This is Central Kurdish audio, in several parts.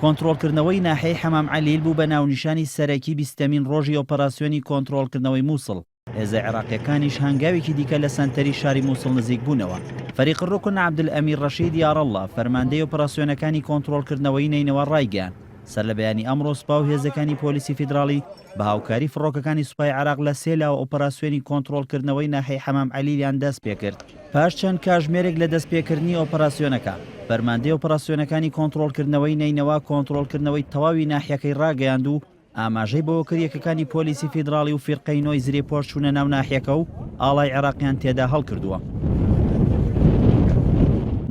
کۆنتڕۆڵکردنەوەی ناحیەی حەمام عەلیل بوو بە ناونیشانی سەرەکی بیستەمین ڕۆژی ئۆپەراسیۆنی کۆنتڕۆڵکردنەوەی مووسڵ، هێزە عێراقییەکانیش هەنگاوێکی دیکە لە سەنتەری شاری مووسڵ نزیک بوونەوە. فەریق الرکن عەبدولئەمیر ڕەشید یاڕەڵڵا، فەرماندەی ئۆپەراسیۆنەکانی کۆنتڕۆڵکردنەوەی نەینەوا ڕایگەیاند، سەرلەبەیانی ئەمڕۆ سپا و هێزەکانی پۆلیسی فیدراڵی بە هاوکاری فڕۆکەکانی سوپای عێراق لە سێ لاوە ئۆپەراسیۆنی کۆنتڕۆڵکردنەوەی ناحیەی حەمام عەلیلیان دەستپێکرد. پاش چەند کاژمێرێک لە دەستپێکردنی ئۆپەراسیۆنەکە، فەرماندەی ئۆپەراسیۆنەکانی کۆنتڕۆڵکردنەوەی نەینەوا کۆنتڕۆڵکردنەوەی تەواوی ناحیەکەی ڕاگەیاند و ئاماژەی بەوەکرد یەکەکانی پۆلیسی فیدراڵی و فیرقەی نۆی زرێپۆش چوونە ناو ناحیەکە و ئاڵای عێراقیان تێدا هەڵکردووە.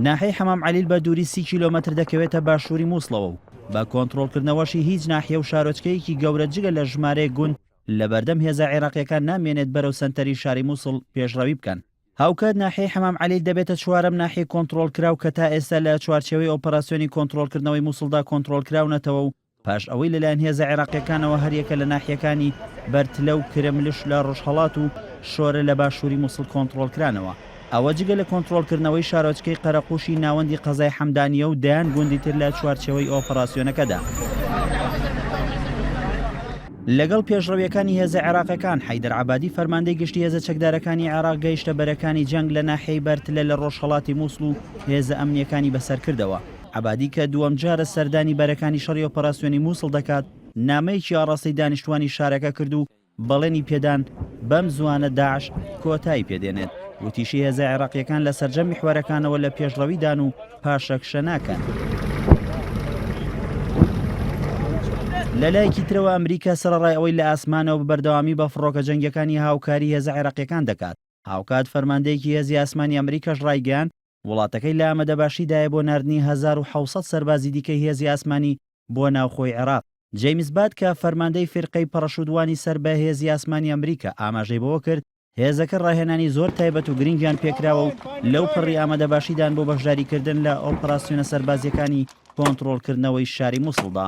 ناحیەی حەمام عەلیل بە دووری سی کیلۆمەتر دەکەوێتە باشووری مووسڵەوە و بە کۆنتڕۆڵکردنەوەشی هیچ ناحیە و شارۆچکەیەکی گەورە جگە لە ژمارەیەک گوند لەبەردەم هێزە عێراقییەکان نامێنێت بەرەو سەنتەری شاری مووسڵ پێشڕەوی بکەن. هاوکات ناحیەی حەمام عەلیل دەبێتە چوارەم ناحیەی کۆنتڕۆڵکراو کە تا ئێستا لە چوارچێوەی ئۆپەراسیۆنی کۆنتڕۆڵکردنەوەی موسڵدا کۆنتڕۆڵکراونەتەوە و پاش ئەوەی لەلایەن هێزە عێراقییەکانەوە هەریەکە لە ناحیەکانی بەرتلە و کرملش لە ڕۆژهەڵات و شۆرە لە باشووری موسڵ کۆنتڕۆڵکرانەوە ئەوە جگە لە کۆنتڕۆڵکردنەوەی شارۆچکەی قەرەقووشی ناوەندی قەزای حەمدانییە و دەیان گوندی تر لە چوارچێوەی ئۆپەراسیۆنەکەدا. لەگەڵ پێشڕەوییەکانی هێزە عێراقیەکان، حەیدەر عەبادی فەرماندەی گشتی هێزە چەکدارەکانی عێراق گەیشتە بەرەکانی جەنگ لە ناحیەی بەرتلە لە ڕۆژهەڵاتی موسڵ و هێزە ئەمنییەکانی بەسەر کردەوە. عەبادی کە دووەم جارە سەردانی بەرەکانی شەڕی ئۆپەراسیۆنی موسڵ دەکات، نامەیەکی ئاڕاستەی دانیشتوانی شارەکە کرد و بەڵێنی پێدان بەم زووانە داعش کۆتایی پێ دێنێت. وتیشی هێزە عێراقییەکان لە سەرجەم میحوەرەکانەوە لە پێشڕەویدان و پاشەکشە ناکەن. لە لایەکی ترەوە ئەمریکا سەرەڕای ئەوەی لە ئاسمانەوە بە بەردەوامی بە فڕۆکە جەنگیەکانی هاوکاری هێزە عێراقیەکان دەکات، هاوکات فەرماندەیەکی هێزی ئاسمانی ئەمریکاش ڕایگەیاند وڵاتەکەی لە ئامەدەباشیدایە بۆ ناردنی هەزار و حەوت سەد سەربازی دیکەی هێزی ئاسمانی بۆ ناوخۆی عێراق. جەیمس باد کە فەرماندەی فیرقەی پەڕەشوتوانی سەر بە هێزی ئاسمانی ئەمریکا ئاماژەی بەوە کرد، هێزەکە ڕاهێنانی زۆر تایبەت و گرنگیان پێکراوە و لەو پەڕی ئامادەباشیدان بۆ بەشداریکردن لە ئۆپەراسیۆنە سەربازییەکانی کۆنتڕۆڵکردنەوەی شاری موسڵدا.